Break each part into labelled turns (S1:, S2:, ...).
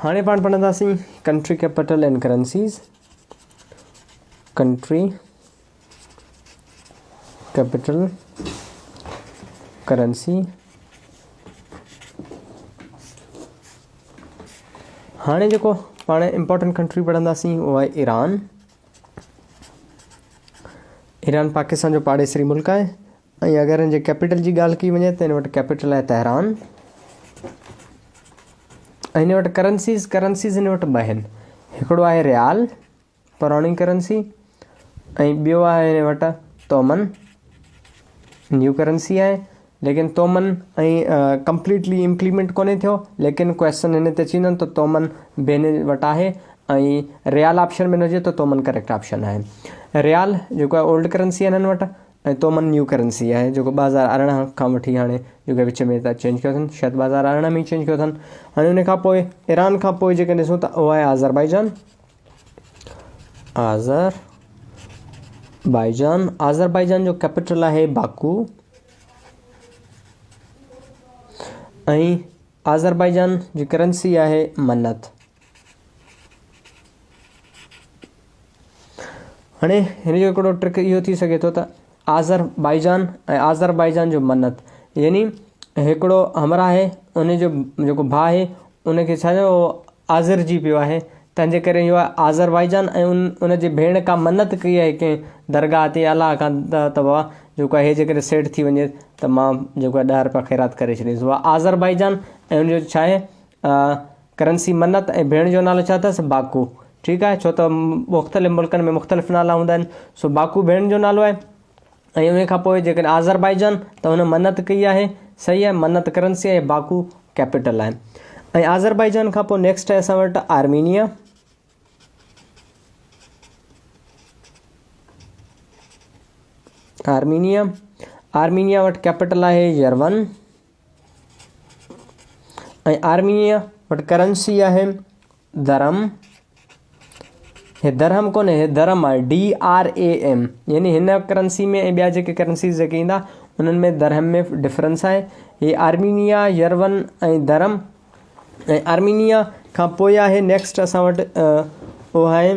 S1: هاڻي پاڻ پڙهنداسين country capital and currencies country capital currency هاڻي جيڪو پاڻ امپورٽنٽ ڪنٽري پڙهنداسين اهو آهي ايران ايران پاڪستان جو پاڙيسري ملڪ آهي ۽ اگر هن جي ڪيپيٽل جي ڳالهه ڪئي وڃي ته هن وٽ ڪيپيٽل آهي تهران ۽ هن وٽ ڪرنسيز ڪرنسيز هن وٽ ٻه آهن هڪڙو آهي ريال پراڻي ڪرنسي ۽ ٻيو آهي هن وٽ تومن نيو ڪرنسي آهي ليڪن تومن ۽ ڪمپليٽلي امپليمنٽ ڪونهي ٿيو ليڪن ڪويشچن هن تي اچي ويندن ته تومن به هن وٽ آهي ۽ ريال آپشن ۾ نه هجي ته تومن ڪريڪٽ آپشن آهي ريال جيڪو آهي اولڊ ڪرنسي آهن هن وٽ ۽ تو من نيو ڪرنسي آهي جيڪو ٻه هزار ارڙهن کان وٺي هاڻي جو ڪي وچ ۾ ته چينج ڪيو اٿن شايد ٻه هزار ارڙهن ۾ ئي چينج ڪيو اٿن هاڻي ان کان پوء ايران کان پوء جيڪي ڏسون ته اهو آهي آذربائيجان آذر بائيجان آذربائيجان جو ڪيپيٽل آهي باڪو ۽ آذربائيجان جي ڪرنسي آهي منت. هاڻي هن جو هڪڙو ٽرڪ اهو ٿي سگهي ٿو ته آذر بائيجان ۽ آذربائيجان جو منت يعني هڪڙو همراهه آهي ان جو جيڪو ڀاء آهي ان کي ڇا چئبو آزرجي پيو آهي، تنهن جي ڪري اهو آذربائيجان ۽ ان جي ڀيڻ ڪا منت ڪئي آهي ڪنهن درگاهه تي الله کان ته بابا جيڪو آهي هي جيڪڏهن سيٽ ٿي وڃي ته مان جيڪو آهي ڏهه رپيا خيرات ڪري ڇڏينس. اها آذربائيجان ۽ ان جو ڇاهي ڪرنسي منت ۽ ڀيڻ جو نالو ڇا اٿس باڪو ٺيڪ آهي ڇو ته مختلف ملڪن ۾ مختلف نالا هوندا آهن سو باڪو ڀيڻ جو نالو آهي. ۽ انهي کان پوء جيڪڏهن آذربائيجان ته هن منت ڪئي آهي صحيح آهي منت ڪرنسي آهي باڪو ڪيپيٽل آهي ۽ آذربائيجان کان پوء نيڪسٽ آهي اسان وٽ آرمينيا آرمينيا آرمينيا وٽ ڪيپيٽل آهي يرون ۽ آرميء وٽ ڪرنسي آهي درهم، هي درهم ڪونهي هي درم آهي DRAM يعني هن ڪرنسي ۾ ۽ ٻيا جيڪي ڪرنسيز جيڪي ايندا انهن ۾ درهم ۾ ڊفرنس آهي هي آرمينيا يرون ۽ درم ۽ آرمينيا کان پوء آهي نيڪسٽ اسان وٽ اهو آهي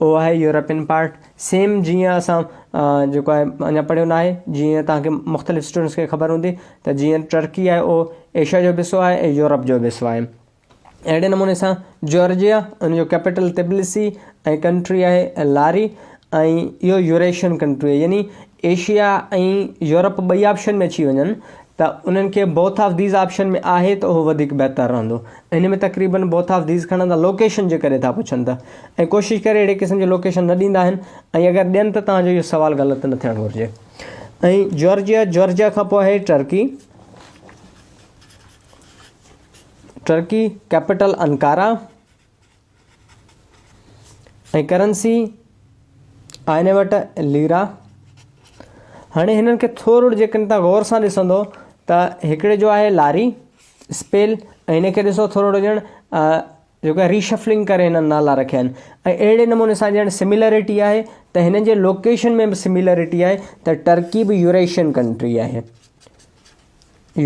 S1: اهو آهي يورپين پارٽ سيم جيئن اسان جيڪو آهي اڃا پڙهيو نه آهي جيئن توهان کي مختلف اسٽوڊنٽس کي خبر هوندي ته جيئن ٽرڪي آهي اهو ايشيا جو به حصو آهي ۽ يورپ جو به حصو آهي اهڙي نموني سان جارجيا ان جو ڪيپيٽل تبلسي ۽ ڪنٽري آهي لاري ۽ اهو يوريشن ڪنٽري يعني ايشيا ۽ يورپ ٻئي آپشن ۾ اچي وڃن ته انهن کي بوٿ آف ديز آپشن ۾ آهي ته اهو وڌيڪ بهتر رهندو ان ۾ تقريبن بوٿ آف ديز کڻندا لوڪيشن جي ڪري ٿا پڇن ته ۽ ڪوشش ڪري اهڙي قسم جي لوڪيشن نه ڏيندا آهن ۽ اگر ڏين ته توهان جو اهو سوال غلط نه ٿيڻ گهرجي ۽ جورجيا جورجيا کان پوء آهي Turkey Turkey capital Ankara ۽ currency آئني وٽ ليرا هاڻي هنن کي ٿورو جيڪڏهن تان غور سان ڏسندو ته هڪڙي جو آهي لاري اسپيل ۽ هن کي ڏسو ٿورو ڄڻ جيڪو آهي ریشفلنگ ڪري هنن نالا رکيا آهن ۽ اهڙي نموني سان ڄڻ سميلرٽي آهي ته هنن جي لوڪيشن ۾ به سميلرٽي آهي ته ٽرڪي به يوريشين ڪنٽري آهي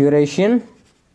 S1: يوريشين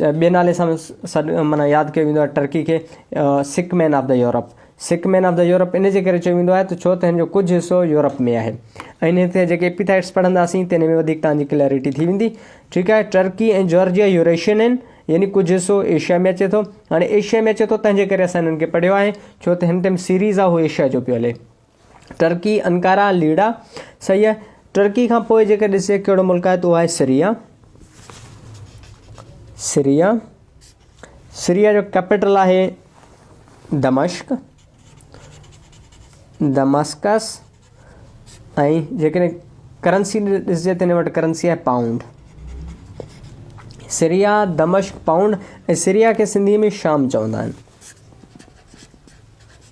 S1: ٻئي نالي سان سڏ معنيٰ ياد ڪيو ويندو آهي ٽرڪي کي sick man of the Europe. Sick man of the Europe ان جي ڪري چيو ويندو آهي ته ڇو ته هن جو ڪجهه حصو يورپ ۾ آهي ۽ هن تي جيڪي ايپيٿائيٽس پڙهنداسين تنهن ۾ وڌيڪ توهان جي ڪليئرٽي ٿي ويندي ٺيڪ آهي ٽرڪي ۽ جارجيا يوريشين آهن يعني ڪجهه حصو ايشيا ۾ اچي ٿو هاڻي ايشيا ۾ اچي ٿو تنهن جي ڪري اسان هنن کي پڙهيو آهي ڇو ته هن تي سيريز آهي هو ايشيا جو پيو هلي. ٽرڪي، انقره، ليڙا، صحيح آهي. ٽرڪي کان پوء جيڪر ڏسجي ڪهڙو ملڪ آهي ته اهو آهي سريا. سريا سريا جو ڪيپيٽل آهي دمشق دمسڪس ۽ جيڪڏهن ڪرنسي ڏسجي ته هن وٽ ڪرنسي آهي پائونڊ سريا دمشق پائونڊ ۽ سريا کي سنڌي ۾ شام چوندا آهن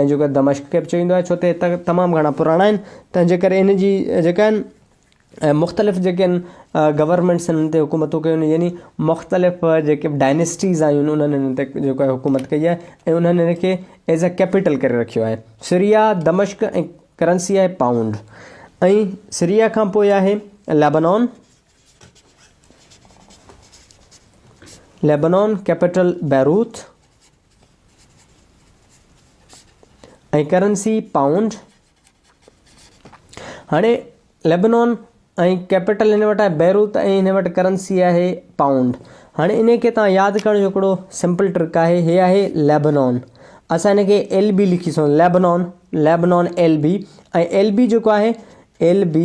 S1: ۽ جيڪو دمشق کي به چيو ويندو آهي ڇو ته هي تخت تمام گهڻا پراڻا آهن تنهن جي ڪري هن جي جيڪا آهن ۽ مختلف جيڪي آهن گورنمينٽس هن تي حڪومتون ڪيون آهن يعني مختلف جيڪي به ڊائنسٽيز آيون آهن انهن هن تي جيڪو آهي حڪومت ڪئي آهي ۽ انهن هن کي ايز اي ڪيپيٽل ڪري رکيو آهي سريا دمشق ۽ ڪرنسي آهي پائونڊ ۽ سريا کان پوء آهي Lebanon Lebanon capital Beirut ۽ currency pound هاڻي ليبنان ۽ ڪيپيٽل هن وٽ آهي بيروت ۽ هن وٽ ڪرنسي آهي پائونڊ هاڻي ان کي تان ياد ڪرڻ جو هڪڙو سمپل ٽرڪ آهي هي آهي ليبنان اسان ان کي ايل بي لکي سون Lebanon Lebanon L B ۽ L B جيڪو آهي ايل بي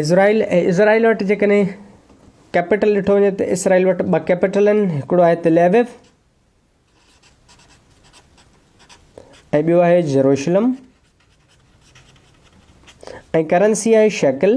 S1: اسرائيل ۽ اسرائيل وٽ جيڪڏهن ڪيپيٽل ڏٺو وڃي ته اسرائيل وٽ ٻه ڪيپيٽل آهن هڪڙو آهي تل ايوف ۽ ٻيو آهي جروشلم ۽ ڪرنسي آهي شيڪل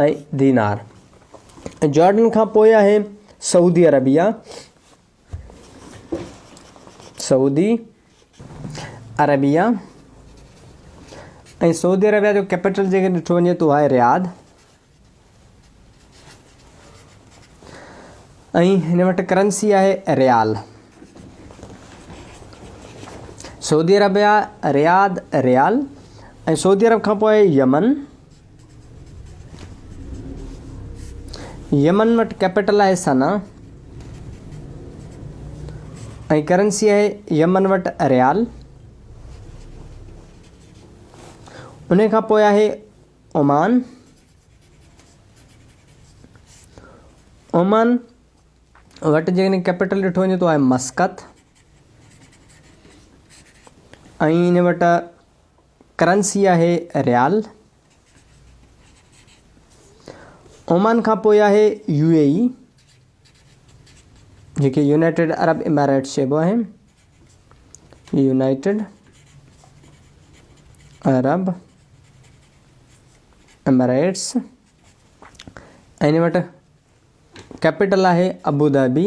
S1: ۽ دينار ۽ جارڊن کان پوء آهي سعودي عربيه سعودي عربيه ۽ سعودي عربيه جو ڪيپيٽل جيڪي ڏٺو وڃي تو آهي رياض ۽ هن وٽ ڪرنسي آهي ريال سعودي عربيا رياض ريال ۽ سعودي عرب کان پوء يمن يمن وٽ ڪيپيٽل آهي سنا ۽ ڪرنسي آهي يمن وٽ ريال ان کان پوء آهي عمان عمان وٽ جيڪڏهن ڪيپيٽل ڏٺو وڃي تو آهي مسقط ۽ ان وٽ ڪرنسي آهي ريال. اومان کان پوء آهي يو اي اي جنهن کي يونائيٽيڊ عرب اماريٽس چئبو آهي. يونائيٽيڊ عرب اماريٽس ۽ وٽ ڪيپيٽل آهي ابوظهبي.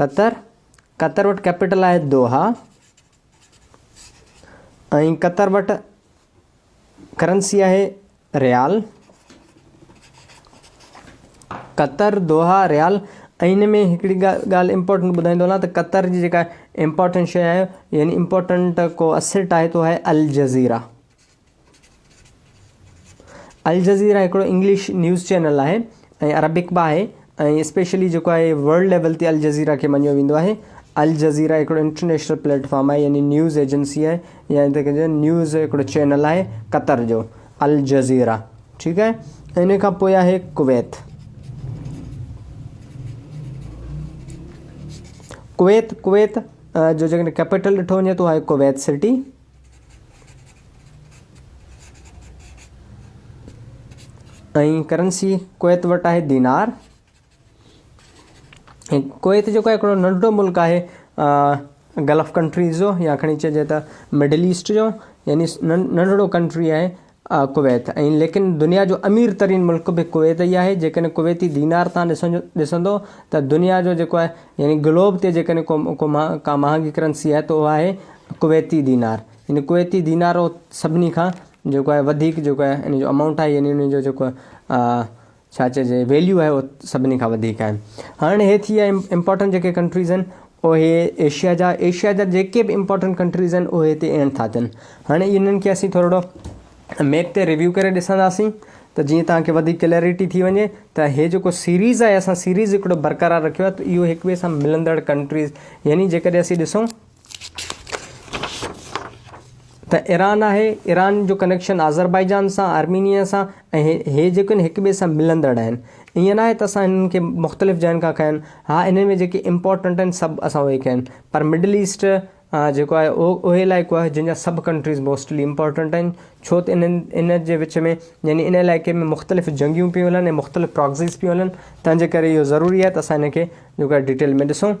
S1: قطر، قطر وٽ ڪيپيٽل آهي دوحا ۽ قطر وٽ ڪرنسي آهي ريال. قطر، دوحا، ريال ۽ ان ۾ هڪڙي ڳالهه امپورٽنٽ ٻڌائيندو هلان ته قطر جي جيڪا امپورٽنٽ شيء آهي يعني امپورٽنٽ ڪو اسيٽ آهي تو آهي الجزيره. الجزيره هڪڙو انگلش نيوز چينل آهي ۽ عربڪ به آهي ۽ اسپيشلي جيڪو آهي ورلڊ ليول تي الجزيره کي مڃيو ويندو آهي. الجزيره هڪڙو انٽرنيشنل پليٽ فارم آهي يعني نيوز ايجنسي آهي يا ان کي چئبو آهي نيوز هڪڙو چينل آهي قطر جو الجزيره ٺيڪ آهي ان کان پوء آهي ڪويت ڪويت ڪويت جو جيڪڏهن ڪيپيٽل ڏٺو وڃي ته اها آهي ڪويت سٽي ۽ ڪرنسي ڪويت وٽ آهي دينار ۽ ڪويت جو هڪڙو ننڍو ملڪ آهي گلف ڪنٽريز جو يا کڻي چئجي ته مڊل ايسٽ جو يعني ننڍڙو ڪنٽري آهي ڪويت ۽ ليڪن دنيا جو امير ترين ملڪ به ڪويت ئي آهي جيڪڏهن ڪويتي دينار تان ڏسندو ته دنيا جو جيڪو آهي يعني گلوب تي جيڪڏهن ڪو ڪو ڪا مهانگي ڪرنسي آهي ته اهو آهي ڪويتي دينار يعني ڪويتي دينار سڀني کان جيڪو آهي وڌيڪ جيڪو آهي ان جو امائونٽ آهي يعني ان جو جيڪو ڇا چئجي ويليو آهي اهو سڀني کان وڌيڪ آهي هاڻي هي ٿي ويا امپورٽنٽ جيڪي ڪنٽريز آهن اهي ايشيا جا ايشيا جا جيڪي به امپورٽنٽ ڪنٽريز آهن اهي هتي اينڊ ٿا ٿين هاڻي انهن کي اسين ٿورڙو ميپ تي ريويو ڪري ڏسنداسين ته جيئن توهان کي وڌيڪ ڪليئرٽي ٿي وڃي ته هي جيڪو سيريز آهي اسان سيريز هڪڙو برقرار رکيو آهي ته اهو هڪ ٻئي سان ملندڙ ڪنٽريز يعني جيڪڏهن اسين ڏسون ته ايران آهي، ايران جو ڪنيڪشن آذربائيجان سان، آرمينيا سان ۽ هي جيڪي آهن هڪ ٻئي سان ملندڙ آهن. ائين ناهي ته اسان هنن کي مختلف جاين کان کنيا آهن، ها انهن ۾ جيڪي امپارٽنٽ آهن سڀ اسان اهي کنيا آهن پر مڊل ايسٽ جيڪو آهي اهو اهي علائقو آهي جن جا سڀ ڪنٽريز موسٽلي امپارٽنٽ آهن ڇو ته انهن ان جي وچ ۾ يعني ان علائقي ۾ مختلف جنگيون پيون هلن ۽ مختلف پراڪسيز پيون هلن تنهنجي ڪري اهو ضروري آهي ته اسان هن کي جيڪو آهي ڊيٽيل ۾ ڏسون.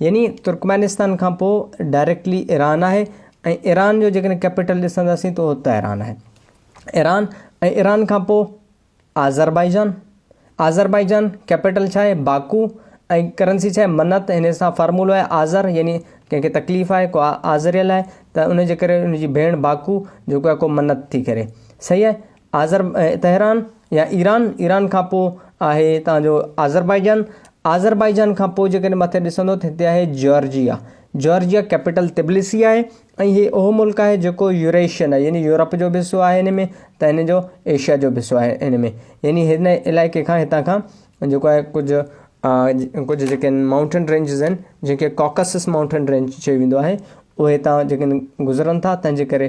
S1: يعني ترڪمانستان کان پوء ڊائريڪٽلي ايران آهي ۽ ايران جو جيڪڏهن ڪيپيٽل ڏسنداسين ته اهو تهران آهي. ايران ۽ ايران کان پوء آذربائيجان، آذربائيجان ڪيپيٽل ڇا آهي؟ باڪو ۽ ڪرنسي ڇا آهي؟ منت هن سان فارمولو آهي آذر يعني ڪنهن کي تڪليف آهي ڪو آذريل آهي ته ان جي ڪري ان جي ڀيڻ باڪو جيڪو آهي ڪو منت ٿي ڪري صحيح آهي. آذر، تهران يا ايران، ايران کان پوء آهي توهان جو آذربائيجان، آذربائيجان کان پوء جيڪڏهن مٿي ڏسندو ته هتي آهي جارجيا، جارجيا ڪيپيٽل طبلسي آهي ۽ هي اهو ملڪ آهي جيڪو يوريشين آهي يعني يورپ جو به حصو آهي هن ۾ ته هن جو ايشيا جو به حصو آهي هن ۾ يعني هن علائقي کان هتان کان جيڪو آهي ڪجهه ڪجهه جيڪي آهن مائونٽين رينجز آهن جنهن کي ڪاڪسس مائونٽين رينج چيو ويندو آهي اهي هتان جيڪي آهن گذرن ٿا تنهنجي ڪري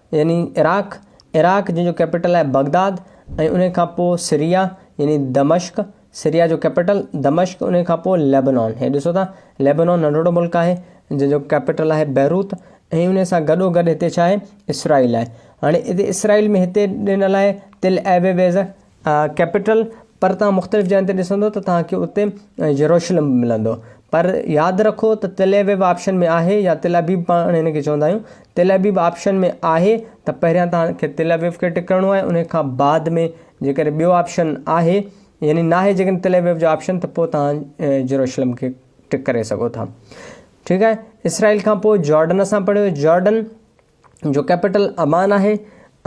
S1: يعني عراق، عراق جنهن جو ڪيپيٽل آهي بغداد ۽ ان کان پوء سريا يعني دمشق، سريا جو ڪيپيٽل دمشق ان کان پوء ليبنان، هي ڏسو ٿا ليبنان ننڍڙو ملڪ آهي جنهن جو ڪيپيٽل آهي بيروت ۽ ان سان گڏو گڏ هتي ڇا آهي اسرائيل آهي. هاڻي هتي اسرائيل ۾ هتي ڏنل آهي تل ايويويز، ڪيپيٽل، پر توهان مختلف جاين تي ڏسندو ته توهان کي اتي يروشلم به ملندو. پر ياد رکو ته تل ابيب آپشن ۾ آهي يا تل ابيب پاڻ هن کي چوندا آهيون. تل ابيب آپشن ۾ آهي ته پهريان توهان کي تل ابيب کي ٽڪ ڪرڻو آهي انهي کان بعد ۾ جيڪڏهن ٻيو آپشن آهي يعني ناهي جيڪڏهن تل ابيب جو آپشن ته پوء توهان يروشلم کي ٽڪ ڪري سگهو ٿا. ٺيڪ آهي اسرائيل کان پوء جارڊن اسان پڙهيو جارڊن جو ڪيپيٽل عمان آهي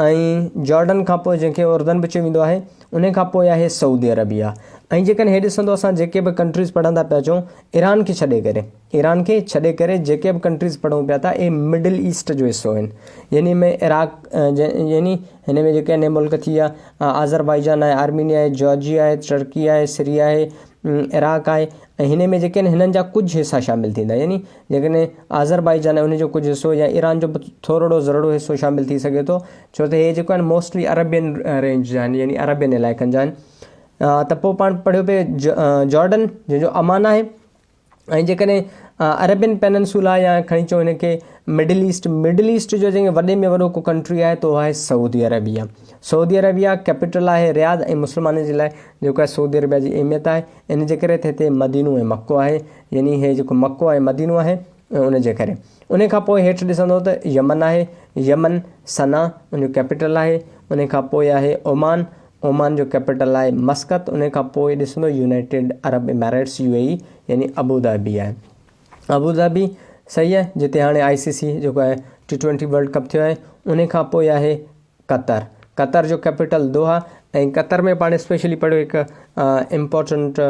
S1: ۽ جارڊن کان پوء جنهن کي اردن به چيو ويندو آهي انهي کان پوء آهي سعودي عربيه ۽ جيڪڏهن هي ڏسندو اسان جيڪي به ڪنٽريز پڙهندا پيا اچون ايران کي ڇڏي ڪري ايران کي ڇڏي ڪري جيڪي به ڪنٽريز پڙهون پيا ٿا اهي مڊل ايسٽ جو حصو آهن يعني ۾ عراق يعني هن ۾ جيڪي انهي ملڪ ٿي ويا آذربائيجان آهي آرمينيا آهي جارجيا آهي ٽرڪي آهي سريا آهي عراق آهي ۽ هن ۾ جيڪي آهن هنن جا ڪجهه حصا شامل ٿيندا يعني جيڪڏهن آذربائيجان ۽ ان جو ڪجهه حصو يا ايران جو به ٿورڙو ذرڙو حصو شامل ٿي سگهي ٿو ڇو ته هي جيڪو آهن موسٽلي عربين رينج جا آهن يعني عربين علائقن جا آهن ته پوء پاڻ پڙهيو پئي جارڊن جنهن جو امان آهي ۽ جيڪڏهن عربين پيننسولا يا کڻي چون هن کي مڊل ايسٽ مڊل ايسٽ جو جنهن وڏي ۾ وڏو ڪو ڪنٽري آهي تو آهي Saudi Arabia Saudi Arabia capital آهي رياض ۽ مسلمانن جي لاء جيڪو آهي سعودي عربيه جي اهميت آهي ان جي ڪري ته هتي مدينو ۽ مڪو آهي، يعني هي جيڪو مڪو آهي مدينو آهي ان جي ڪري. انهي کان پوء هيٺ ڏسندؤ ته يمن آهي، يمن، صنعا، ان جو ڪيپيٽل آهي، انهي کان پوء آهي عمان، عمان جو ڪيپيٽل آهي مسقط، انهي کان پوء ڏسندؤ يونائيٽيڊ عرب اماريٽس، يو اي اي، يعني ابوظهبي آهي. ابوظهبي صحيح آهي جتي هاڻي آء سي سي جيڪو آهي ٽي ٽوئنٽي ورلڊ ڪپ ٿيو آهي، انهي کان پوء آهي قطر، قطر جو ڪيپيٽل دوحا ۽ قطر ۾ پاڻ اسپيشلي پڙهيو هڪ امپورٽنٽ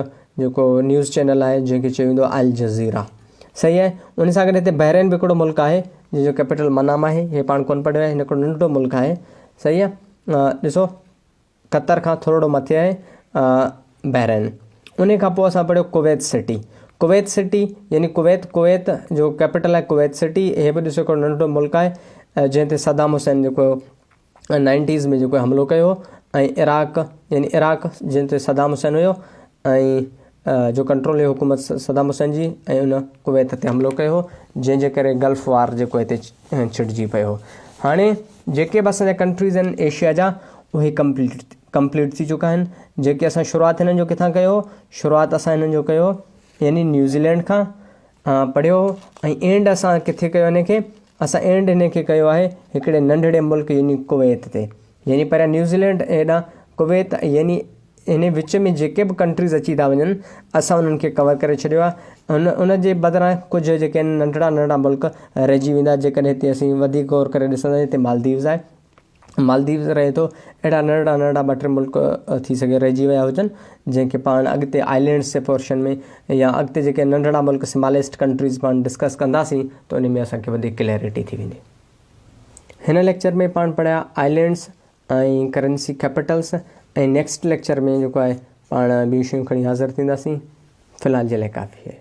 S1: جيڪو نيوز چينل آهي جنهن کي چيو ويندو آهي الجزيرا صحيح آهي ان سان گڏ هتي بحرين به هڪڙو ملڪ آهي جنهن جو ڪيپيٽل منام آهي هي پاڻ ڪون پڙهيو آهي هن هڪڙو ننڍڙو ملڪ آهي صحيح آهي ڏسو قطر کان ٿورڙو مٿي آهي بحرين انهي کان پوء اسان پڙهيو ڪويت سٽي ڪويت سٽي يعني ڪويت ڪويت جو ڪيپيٽل آهي ڪويت سٽي هي به ڏسو هڪڙو ننڍڙو ملڪ آهي جنهن تي صدام حسين جيڪو نائنٽيز ۾ جيڪو حملو ڪيو هو ۽ عراق يعني عراق جنهن تي صدام حسين هيو ۽ جو ڪنٽرول هئي حڪومت صدام حسين جي ۽ ان ڪويت تي حملو ڪيو هو جنهن جي ڪري گلف وار جيڪو هتي ڇٽجي پيو هو هاڻي جيڪي به اسان جا ڪنٽريز آهن ايشيا جا اهي ڪمپليٽ ڪمپليٽ ٿي چڪا آهن جيڪي اسان شروعات هنن جو ڪٿان ڪيو شروعات اسان هنن جو ڪيو يعني نيوزيلينڊ کان پڙهيو ۽ اينڊ اسان ڪٿي ڪيو ان کي اسان اينڊ ان کي ڪيو آهي هڪڙي ننڍڙي ملڪ يعني ڪويت تي يعني پهريان نيوزيلينڊ هيڏانهن ڪويت يعني ان وچ ۾ جيڪي به ڪنٽريز اچي ٿا وڃن اسان انهن کي ڪور ڪري ڇڏيو آهي ان ان جي بدران ڪجهه جيڪي آهن ننڍڙا ننڍڙا ملڪ رهجي ويندا جيڪڏهن هتي اسين وڌيڪ غور ڪري ڏسندا هتي مالديوز آهي مالديوز رهي ٿو اهڙا ننڍڙا ننڍڙا ٻ ٽي ملڪ ٿي سگهي رهجي ويا هجن جنهن کي پاڻ اڳتي آئلينڊس جي پورشن ۾ يا اڳتي جيڪي ننڍڙا ملڪ سماليسٽ ڪنٽريز پاڻ ڊسڪس ڪنداسين ته ان ۾ اسانکي وڌيڪ ڪليئرٽي ٿي ويندي هن ليڪچر ۾ پاڻ پڙهيا islands ۽ currency capitals ۽ next lecture ۾ جيڪو آهي پاڻ ٻيون شيون کڻي حاضر ٿينداسين في الحال جي لاء ڪافي آهي.